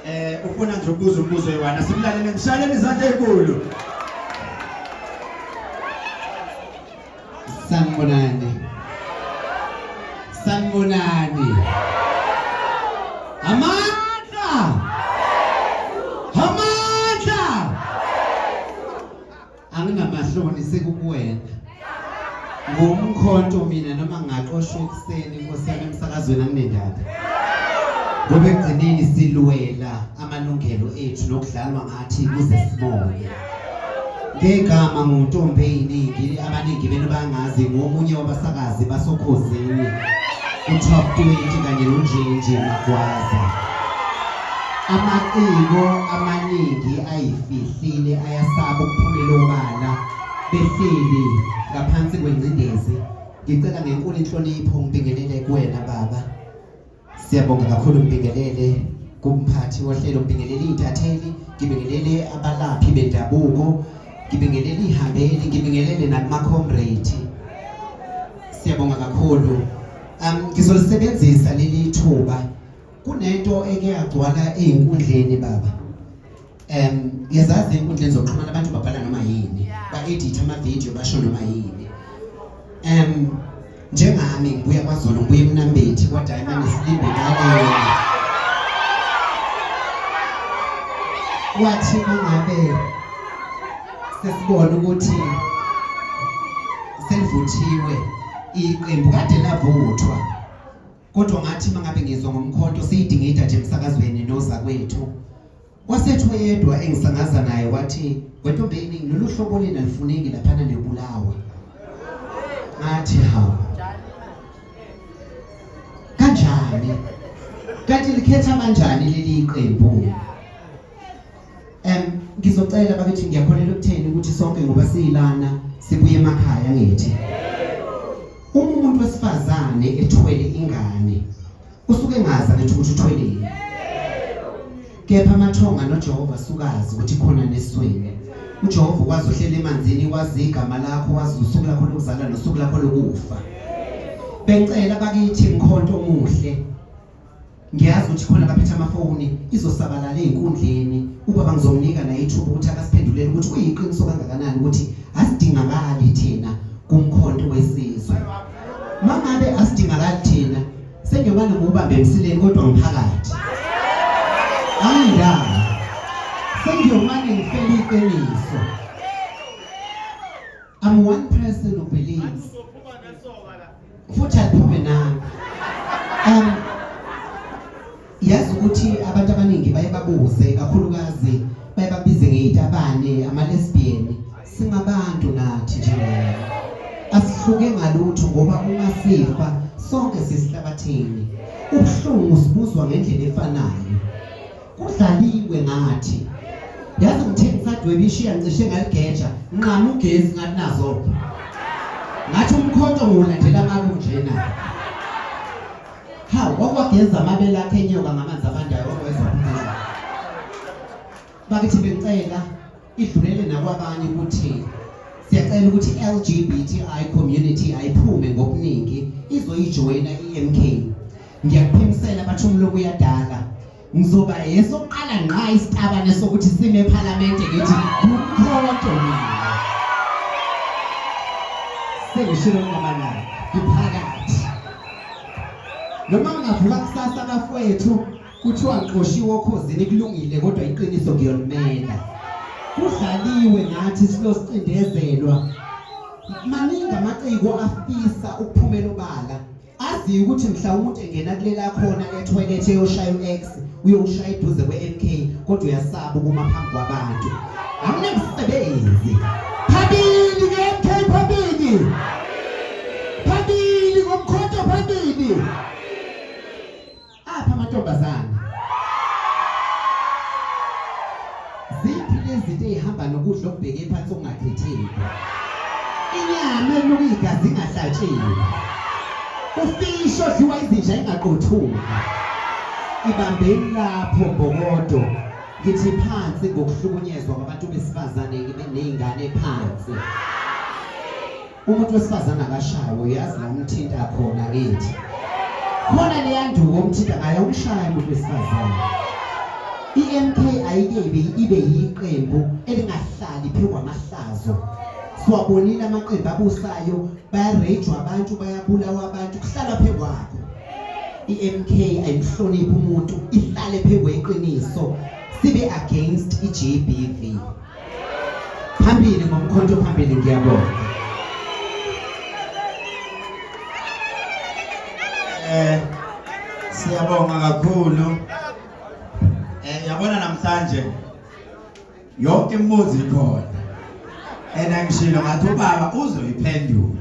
Eh ufuna nje ukubuza umbuzo yiwana simlalele ngishaleni izandla ezinkulu. Sanibonani. Sanibonani. Amandla. Amandla. angingamahloni sekukuwena ngumkhonto mina noma ngaqoshwa ekuseni inkosi yami emsakazweni anginendaba ngoba ekugcineni silwela amalungelo ethu nokudlalwa ngathi kuze sibone ngegama nguntombi eyiningi abaningi benu bangazi ngomunye wabasakazi basokhozini u-top 20 kanye nonjenje magwaza Amaciko amaningi ayifihlile ayasaba ukuphumela obala behleli ngaphansi kwengcindezi. Ngicela ngenkulu inhlonipho ngibingelele kuwena baba. Siyabonga kakhulu ngibingelele kumphathi wohlelo ngibingelele iy'ntatheli ngibingelele abalaphi bendabuko ngibingelele iy'hambeli ngibingelele nakumakhomrade siyabonga kakhulu um ngizolisebenzisa leli thuba kunento eke yagcwala ey'nkundleni baba um ngiyazazi ey'nkundleni zokuxhumana abantu babhala noma yini ba-editha amavidiyo basho noma yini um njengami ngibuya kwazolo ngibuya emnambethi kwadiamond silindekaleyo wathi mangabe sesibona ukuthi selivuthiwe iqembu kade lavuthwa kodwa ngathi mangabe ngizwa ngomkhonto siyidingida nje emsakazweni noza kwethu wasethu yedwa engisangaza naye wathi wentombeni lolu hlobo lena lifuneki laphana nebulawa ngathi hawu kanjani kanti likhetha kanjani leli qembu Em ngizocela bakithi ngiyakholelwa ukutheni ukuthi sonke ngoba siyilana sibuye emakhaya ngithi. Uma umuntu wesifazane ethwele ingane usuke ngazi ukuthi ukuthi uthweleni. Kepha amathonga noJehova sukazi ukuthi khona nesweni. uJehova ukwazi uhlela emanzini wazi igama lakho wazi usuku lakho lokuzala nosuku lakho lokufa bengicela bakithi mkhonto omuhle ngiyazi ukuthi khona abaphethe amafoni izosabalala ey'nkundleni ubaba ngizomnika naye ithuba ukuthi akasiphendulele ukuthi kuyiqiniso kangakanani ukuthi asidingakali thina kumkhonto wesizwe uma ngabe asidingakali thina sengiyobane ngubambe emsileni kodwa ngiphakathi angindaba sengiyomane ngifele iqiniso I'm one person who believes futhi aliphume nami um yazi ukuthi abantu abaningi baye babuze kakhulukazi baye babize ngeyitabane amalesbian singabantu nathi njengayo asihluke ngalutho ngoba uma sifa sonke sisihlabathini ubuhlungu sibuzwa ngendlela efanayo kudlaliwe ngathi yazi ngithe ngisadweba ishiya ngicishe ngaligeja nqama ugesi ngathi nazo ngathi umkhonto ngiwulandela ngaku njena hawu kwakwageza amabele akhe enyoka ngamanzi abandayo okwezwa bakithi bengicela idlulele nakwabanye ukuthi siyacela ukuthi i-LGBTI community ayiphume ngokuningi izoyijoyina i-MK ngiyakuphimisela bathi umloku uyadala ngizoba yesokuqala ngqa isitabane sokuthi sime ephalamende ngithi kukhotho mina sengishilo ngamanani ngiphakathi noma ngingavuka kusasa bafowethu kuthiwa ngixoshiwe okhozini kulungile kodwa iqiniso ngiyolumela kudlaliwe ngathi silosicindezelwa maningi amaciko afisa ukuphumela obala aziyo ukuthi mhlawumbe engena kulela khona ethoyilethe eyoshaya u-x uyowushaya eduze kwe-mk kodwa uyasaba ukuma phambi kwabantu awunamsebenzi phambili nge-mk phambili phambili ngomkhonto phambili apha amantombazane ziphi lezinto eyihamba nokudla okubheke phansi okungakhetheki inyama eluka igazi ingahlatshiwe ufishi odliwa izinja ingaqothuka ibambeni lapho mbokodo ngithi phansi ngokuhlukunyezwa kwabantu besifazane ney'ngane phansi umuntu wesifazane akashawe uyazi la umthinta khona kithi khona leyanduko umthinta ngayo umshaya umuntu wesifazane i-mk ayike ibe yiqembu elingahlali phezu kwamahlazo siwabonile amaqembu abusayo bayarejwa abantu bayabulawa abantu kuhlala phezu kwakho i-mk ayihloniphi umuntu ihlale phezu kweqiniso sibe against i-gbv phambili ngomkhonto phambili ngiyabonga eh siyabonga kakhulu eh yabona namhlanje yonke imibuzo ikhona and angishilo ngathi ubaba uzoyiphendula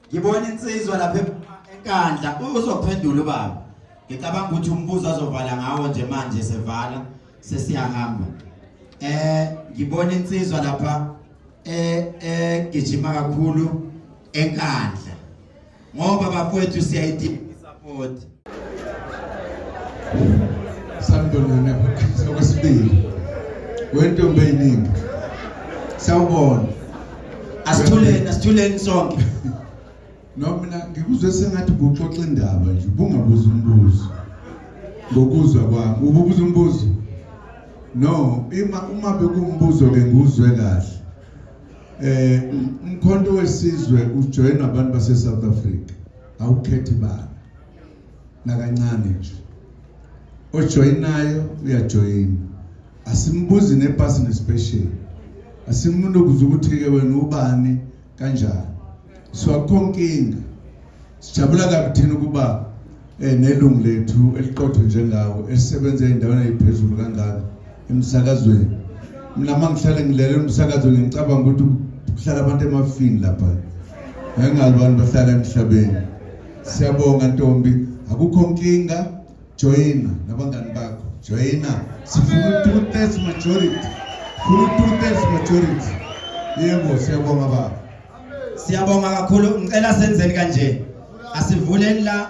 ngibona insizwa lapha enkandla uzophendula ubaba ngicabanga ukuthi umbuzo azovala ngawo nje manje sevala sesiyahamba eh ngibona insizwa lapha eh eh gijima kakhulu enkandla ngoba bakwethu siyayidinga support Sambonana okwesibili. Wentombi eyiningi. Sawubona. Asithuleni, asithuleni sonke. No mina ngikuzwe sengathi kuxoxa indaba nje, bungabuza umbuzo. Ngokuzwa kwami, ububuza umbuzo. No, ima uma bekumbuzo ke nguzwe kahle. Eh, umkhonto wesizwe ujoyina abantu base South Africa. awukhethi bani nakancane nje ojoyinayo uyajoyina asimbuzi nepasi nespecial asimuntu ukuze ukuthi-ke wena ubani kanjani so akukho nkinga sijabula kabi thina ukuba um nelungu lethu eliqotho njengawo esisebenza ey'ndaweni ey'phezulu kangaka emsakazweni mina uma ngihlale ngilalela umsakazo ngicabanga ukuthi kuhlala abantu emafini lapha engazi abantu bahlala emhlabeni siyabonga ntombi akukho nkinga joyina nabangani bakho joyina sifuna u-two thirds majority funa u-two thirds majority yebo siyabonga baba siyabonga kakhulu ngicela senzeni kanje asivuleni la